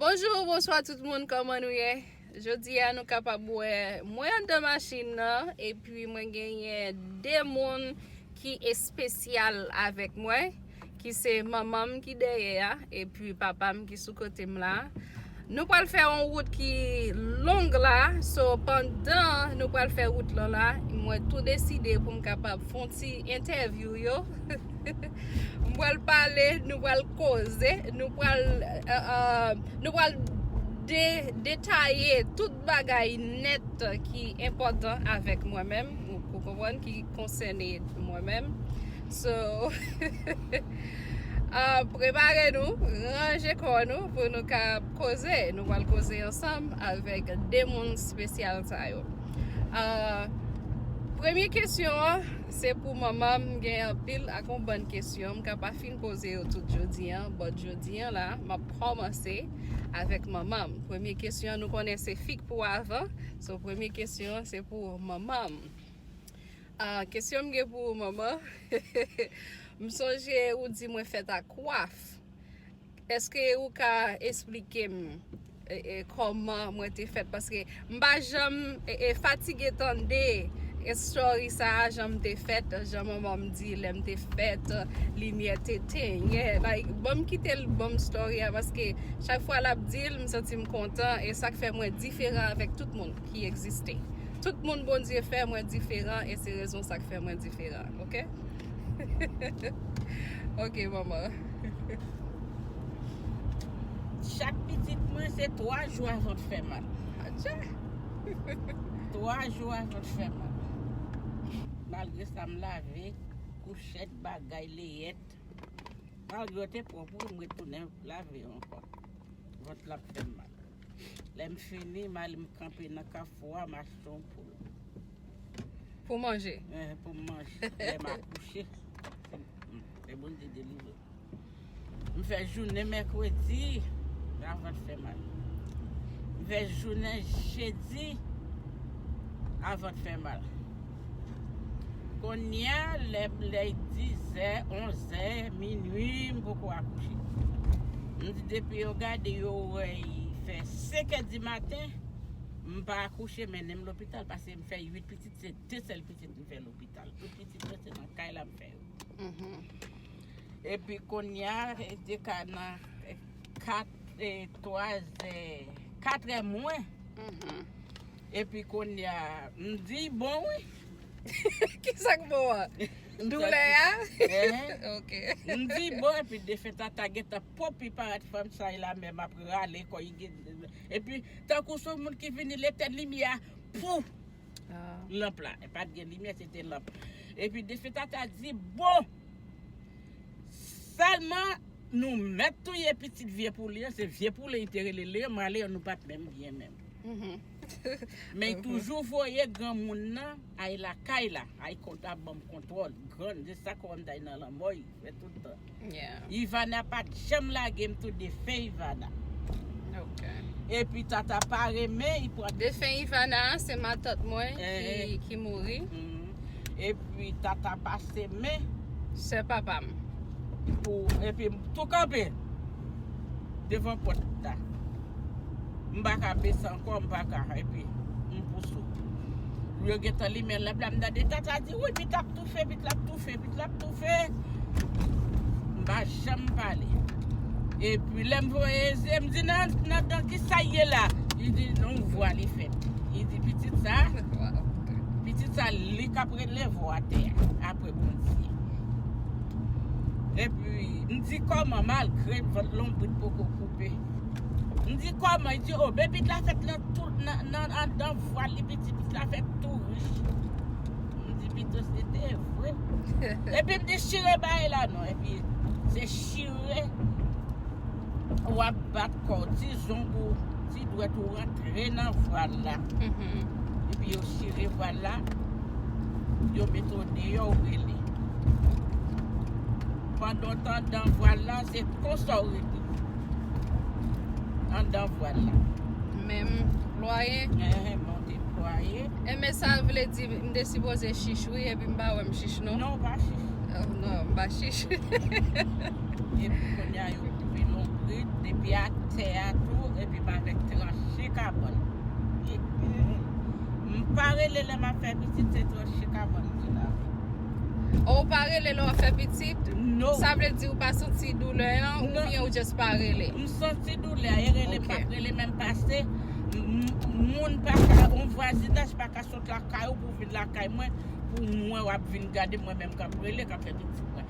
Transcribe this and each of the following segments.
Bonjou ou bonswa tout moun kòman nou ye Jodi a nou kapab wè mwen andan machin nan epi mwen genyen 2 moun ki espesyal avèk mwen ki se manman m ki dèyè a epi papa m ki sou kote m la Nou pral fè yon wout ki long la so pandan nou pral fè wout lan la mwen tou deside pou m kapab fon ti entèvyou yo M pral pale, nou pral koze, nou pral euh, detaye tout bagay nèt ki enpòtan avèk mwen menm, ou konprann, ki konsène mwen menm. So, euh, prepare nou, ranje kò nou pou nou ka koze. Nou pral koze ansanm avèk de moun spesyal sa yo. Euh, premye kesyon an. Se pou manman m gen anpil ak yon bann kesyon m ka pa fin poze yo tout jodi an, but jodi an la m ap kòmanse avèk manman m. Premye kesyon an nou konnen se fik pou avan, so premye kesyon an se pou manman m. Ah, kesyon m gen pou ou manman, m sonje ou di mwen fèt ak kwaf. Eske ou ka esplike m Koman mwen te fèt paske m pa janm fatige tande story sa jan m te fèt jan manman m di lè m te fèt limyè te tenyen like banm kite l banm story a paske chak fwa lap di l m santi m kontan e sak fè mwen diferan avèk tout moun ki egziste tout moun Bondye fè mwen diferan e se rezon sak fè mwen diferan ok ok manman. Chak pitit mwen se 3 jou avan t fè mal. Atcha. 3 jou avan t fè mal. Malgre sa m lave kouchèt bagay leyèt. Malgre yo te pwòp wi m retounen lave yo ankò. Vant la ap fè m mal. Lè m fini m ale m kanpe nan kafou a m achte yon poul. Pou manje? Pou m manje. Lè m akouche. Fè Bondye delivre. M fè jounen mèkredi, la vant fè mal. M fè jounen jedi, la vant fè mal. Konya lè lè 10 zè, 11 zè, minwi m poko akouche. M di depi yo gade yo wè yi fè 5 è di maten, m pa akouche mennen m lopital pase m fè 8 pitit se 2 sèl pitit m fè lopital. Tout pitit mwen se nan kay la m fè. Epi kounya te ka nan 4 e 3 zè 4 è mwen Epi kounya m di bon wi Kisa k bon an? Doulè a? M di bon epi defen tata gentan popi paret fanm sa e la menm ap rale kò Epi tankou son moun ki vini l etèn limyè a Pou! lanp la. E pat gen limyè, se te lanp. E pi Defetata di, bon, sèlman nou mèt touye pitit vye pouli an, se vye pouli li te rele Leon, mwen a Leon nou pat menm byen menm. Men li toujou voye granmoun nan ay lakay la, ay kont la banm kontwòl, grann, se sa kòm ta nan lanmò li. Mwen tout tan. Yeah. Ivana pat janm lagem tou defen Ivana. Ok. Epi tata pa renmen li pran. Defen Ivana a se matant mwen ki mouri. Epi tata pase men. Sè papam. Pou epi tou kanpe. Devan pòt la. M pa ka bese ankò, m pa ka. Epi, m pouse w. Yo gen tan limen lanp la, m tande Tata di, Wi, Pit ap toufe, Pit la ap toufe, Pit la ap toufe. M pa janm pale. Epi, lè m voye zye, m di, Nan, nan, nan, ki sa y ye la? Li di, nan yon vwa li fè. Li di, Pitit sa, pitit sa, li k ap rele vwa atè a. Malgre Bondye. Epi, m di kòman malgre m vant lonbrit poko koupe. M di kòman, li di o bebit la fèt nan tou nan andan vwal li piti pitit la fèt tou rich. M di pito se te vre. Epi m di chire bay la non, epi se chire. Wap bat kòw ti zong ou ti dwèt ou rantre nan vwal la epi yo chire vwal la yo mete w deyò ou rele pandan w t andan vwal la se konsa w rete andan vwal la menm plwaye enben sa vle di m te sipoze chich wi epi m pa wè m chich non non ou pa chich Epi kounye a yo koupe lonbrit, epi ak tè a tou, epi m avèk tranche kabòn. M pa rele lè m ap fè pitit se tranche kabòn m vin avèk. Oh ou pa rele lè w ap fè pitit? No. Sa vle di ou pa santi doulè an ou Non. byen ou just pa rele? M santi doulè a, e rele m Ok. pa p rele menm pase m- moun pa ka, on vwazinaj pa ka sot lakay ou pou vin lakay mwen pou mwen w ap vin gade m mwen menm k ap rele, k ap fè pitit mwen.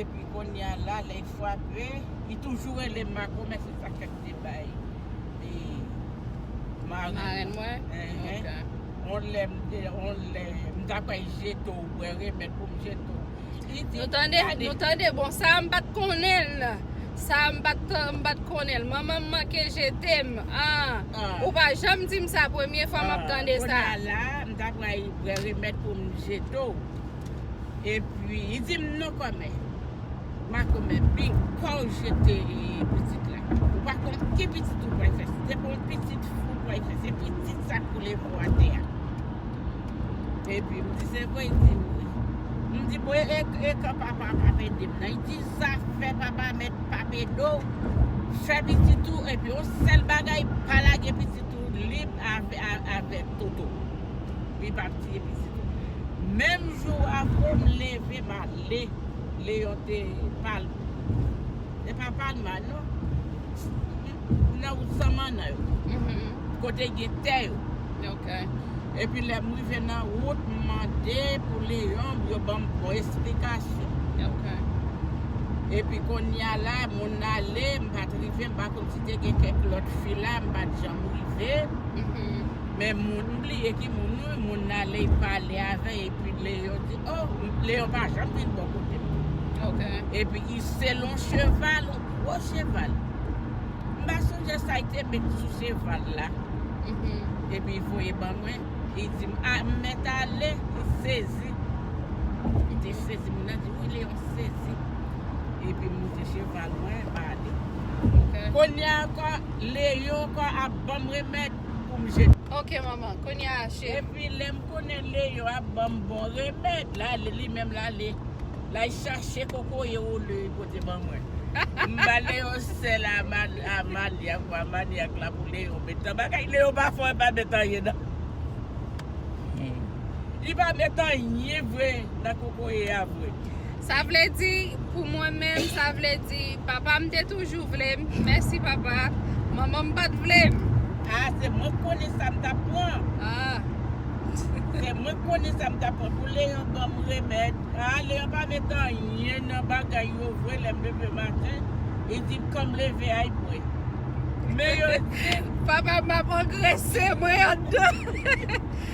Epi konnya la lè y fwape li toujou rele m mako men se sak fèk m te bay marenn mwen on lè m ta kwè y jete w wè remèd pou m jete w Nou tande, nou tande bon sa m pat konnen l Sa m pat konnen l Manman m manke jete m ahh Ou pa janm di m sa premye fwa m ap tande sa Konnya la m ta kwè y wè remèd pou m jete w E pwi li di m non kòmè. Makomè bing pa w jete pitit la. Ou pa konn ki pitit ou pral fè. Se pa yon pitit fou ou pral fè. Se pitit sa k boule vo a tè a. E pwi m di se vre, li di m wi. M di bon e kan papa a pap ede m nan. Li di zafè papa a mèt pap ede w. Fè pitit ou e pwi yon sèl bagay pa lage pitit ou lib avèk Toto. Li pa tiye pitit ou. Menm jou a vro m leve m ale Leon te pal te pa pal mal non m nan wout san mannan yo kote gen tè yo epi lè m rive nan wout m mande pou Leon pou yo ban m bon esplikasyon epi konnya la moun nan ale m pat rive m pa konn si te gen kèk lòt fi la m pat janm rive. Men moun m bliye ki moun wi, moun nan lè y pale avè y epi Leyon di o, Leyon pa janm vin bò kote m. Ok. Epi ki se lon cheval, on gwo cheval. M pa sonje sa y te met sou cheval la. Mhm. Epi y voye ban mwen, y di m a m mèt ale, y sezi. Y te sezi, moun nan di wi Leyon sezi. Epi m monte cheval mwen, m ale. Ok. Kounye a ankò, Leyon ankò ap ban m remèd. poum jete. Ok manman, kounye a cheri. Epi lèm konnen Leo ap banm bon remèd la li menm lale lay chache kokoye ou Leo pote ban mwen m ba Leo sèl a Amalia pou Amalia k la pou Leo metan bagay Leo pa fò epa met anyen nan. Li pa met anyen vre nan kokoye a vre. Sa vle di pou mwen menm sa vle di papa m te toujou vle m mèsi papa manman m pat vle m. Ah se mwen k konnen sa m tap pran. Ah. Se mwen k konnen sa m tap pran pou Leon ban m remèd. Ah Leon pa met anyen nan bagay yo vre lè m leve maten li di m kan m leve a y bwè. Men yo di. Papa m ap angrese mwen andan.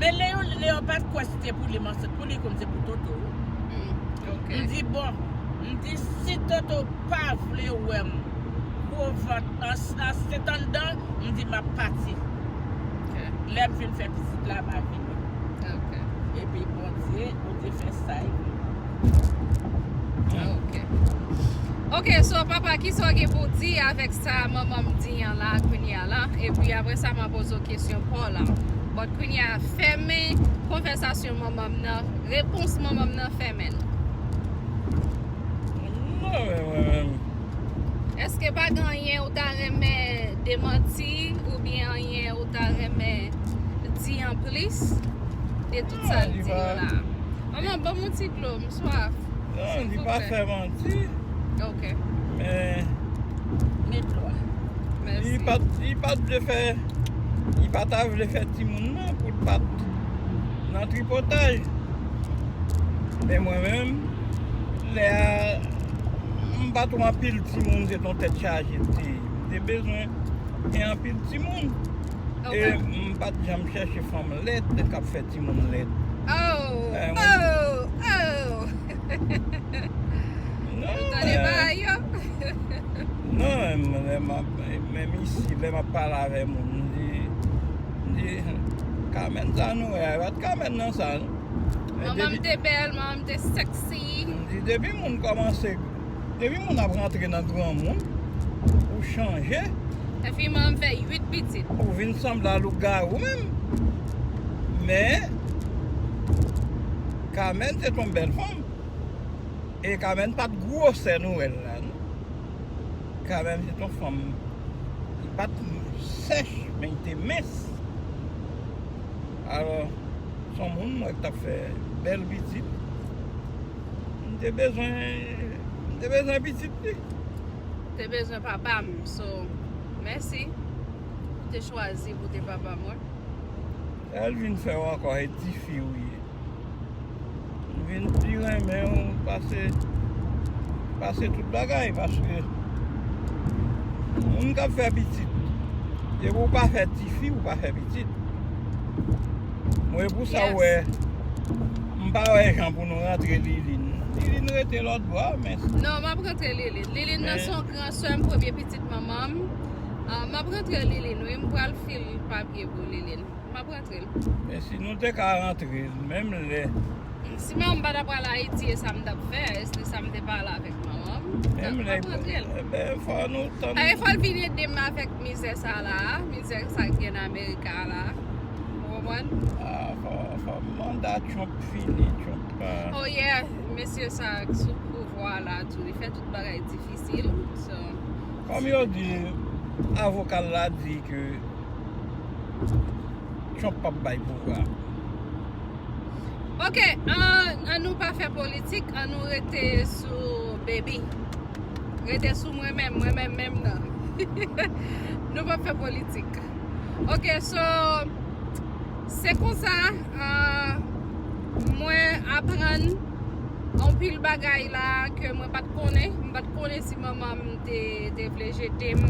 Men Leon Leon pat kwè si te pou li m ansent pou li konn se pou Toto wi m di bon m di si Toto pa vle wè m gwo vant ansent anndan m di map pati lè m fin fè pitit la ma vini epi Bondye Bondye fè sa e Ah, ok. Ok, so papa, kisa w gen pou w di avèk sa manman m di an la kounye a la? Epi apre sa m a poze w kesyon pa w la. But kounye a, fèmen konvèsasyon manman m nan, repons manman m nan fèmen l. Èske pa gen anyen ou ta renmen demanti oubyen anyen ou ta renmen di an plis? Sa l di yo la. Manman banm yon ti dlo m swaf. Non li pa fè manti. Ok. Men. Met dlo a. Mèsi. Li pat li pat vle fè li pa ta vle fè timoun nan pou l pat nan tripotay. Men mwen menm lè a m pat wè anpil timoun se t yon tèt chaje m te ye. M te bezwen gen anpil timoun. E m pat janm chèche fanm lèd kap fè timoun lèd. Oh oh oh. Ou tande bagay yo. Non menm isi lè map pale avè moun m di m di Carmène sa nou wè a e pat Carmène nan sa non. Manman m te bèl, manman m te sexy. M di depi moun kòmanse. Depi moun ap rantre nan granmoun ou chanje. Epi manm fè 8 pitit. Ou vin sanble a lougarou menm. Men Carmène se t yon bèl fanm. E Carmène pat gwosè nou wè l la non. Carmène se t yon fanm ki pat sèch men li te mens. Alò son moun m wè k tap fè bèl pitit. M te bezwen m te bezwen pitit li. M te bezwen papa m so mèsi ou te chwazi pou w te papa mwen. Sa l vin fè w ankò e tifi ou ye. M vin pi renmen w pase pase tout bagay paske moun k ap fè pitit depi w pa fè tifi ou pa fè pitit. Mwen pou sa wè. M pa wè jan pou nou rantre Liline. Liline rete lòt bò a men. Non, m ap rantre Liline. Liline nan se yon gran sè m, premye pitit manman m. M ap rantre Liline wi. M pral fil papye pou Liline. M ap rantre l. Men si nou te ka rantre l menm lè. Si manman m pa ta pral Ayiti e sa m t ap fè? E si sa m te pale avèk manman m? M ap rantre l. Ebyen fò nou tann. Ebyen fò l vin ede m avèk mizè sa la a. Mizè sa ki gen nan Amerika la a. Ou konprann? Ah, fò manda Trump fini, Trump pa. Oh yeah, mesye sa a ki sou pouvwa a la tou, li fè tout bagay difisil, so. Kòm yo di, avoka l la di ke Trump pap bay pouvwa a. Ok, an nou pa fè politik, an nou rete sou Baby. Rete sou mwen menm, mwen menm menm nan. Nou pap fè politik. Ok so Se konsa Mwen aprann Anpil bagay la Ke mwen pat konnen Mwen pat konnen si manman m te vle jete m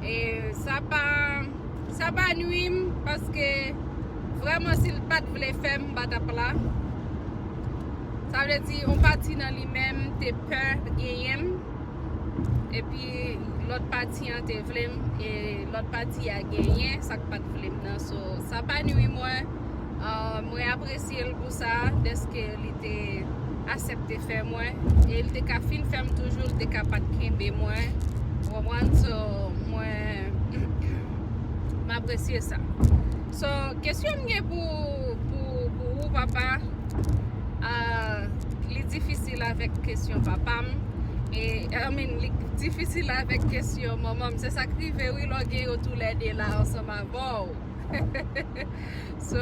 E sa pa Sa pa nwi m Paske Vreman si l pat vle fè m Mwen pa tap la Sa vle di yon pati nan li menm Te pè genyen m epi lòt pati an te vle m e lòt pati a genyen sa k pat vle m nan so sa pa nwi mwen mwen apresye l pou sa dèske li te asèpte fè mwen e l te ka fin fè m toujou l te ka pat kenbe mwen ou konprann so mwen m apresye sa. So kesyon m gen pou pou ou papa ahh li difisil avèk kesyon papa m e I mean li difisil avèk kesyon manman m se sak rive wi lè w gen yo tou lè 2 la ansanm avè w hehehehe so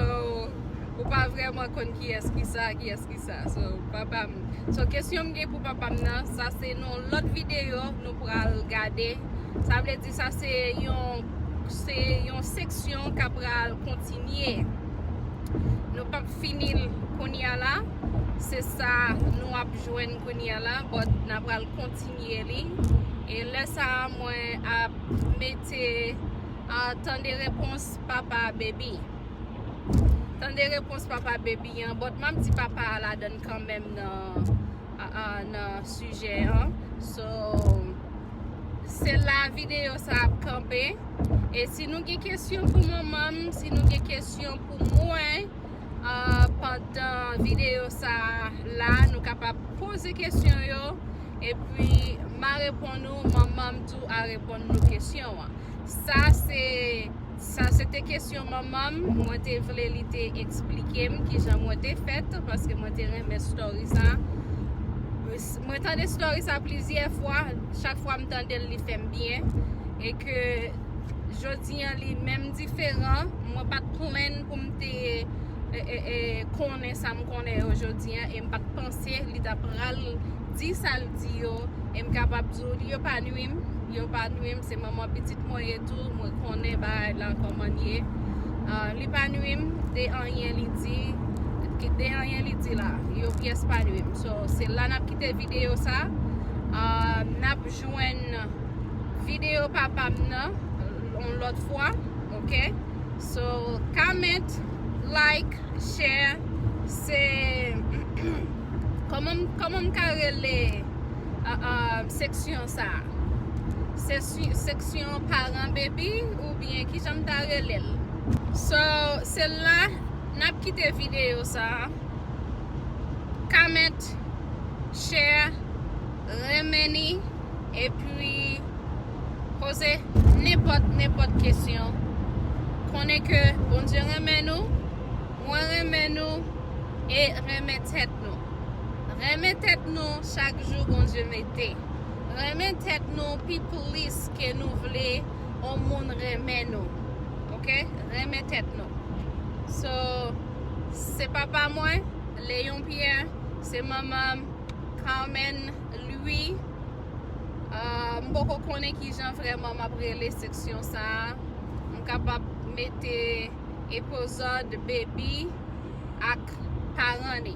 ou pa vrèman konn kiyès ki sa kiyès ki sa so papa m so kesyon m gen pou papa m nan sa se nan lòt videyo nou pral gade sa vle di. Sa se yon se yon seksyon k apral kontinye. Nou pap fini l kounye a la. Se sa nou ap jwenn kounye a la but n apral kontinye li. E lè sa a mwen ap mete tande repons papa Baby. Tande repons papa Baby an but m ap di papa a ladan l kanmenm nan. nan sijè an so se la videyo sa ap kanpe e si nou gen kesyon pou manman m si nou gen kesyon pou mwen pandan videyo sa la nou kapab poze kesyon yo e pi ma repon nou manman m tou a repon nou kesyon an sa se Sa se te kesyon manman m, mwen te vle li te eksplike m kijan mwen te fèt paske mwen te renmen story sa. Mwen tande story sa plizyè fwa, chak fwa m tande l li fè m byen e ke jodi an li menm diferan, mwen pat plenn pou m te konnen sa m konnen yo jodi an e m pat panse li ta pral di sa l di yo e m kapab di w li yo pa nwi m, yo pa nwi m, se manman pitit mwen ye. tèt tou mwen konnen bagay lan koman ye li pa nwi m de anyen li di de anyen li di la yo pyès pa nwi m so se la nap kite video sa nap jwenn video papa m nan on lot fwa ok so comment like share se koman m ka rele seksyon sa se Seksyon paran baby ou byen kijan m ta rele l. So se la nap kite video sa comment share renmen ni epi poze nenpot nenpot kesyon konnen ke bondye renmen nou mwen renmen nou e renmen tet nou renmen tet nou chak jou bondye mete. Renmen tèt nou pi plis ke nou vle yon moun renmen nou ok renmen tèt nou so se papa mwen Léon Pierre se manman m Carmène Louis m poko konnen kijan vrèman map rele seksyon sa m kapab mete epozòd baby ak paran li.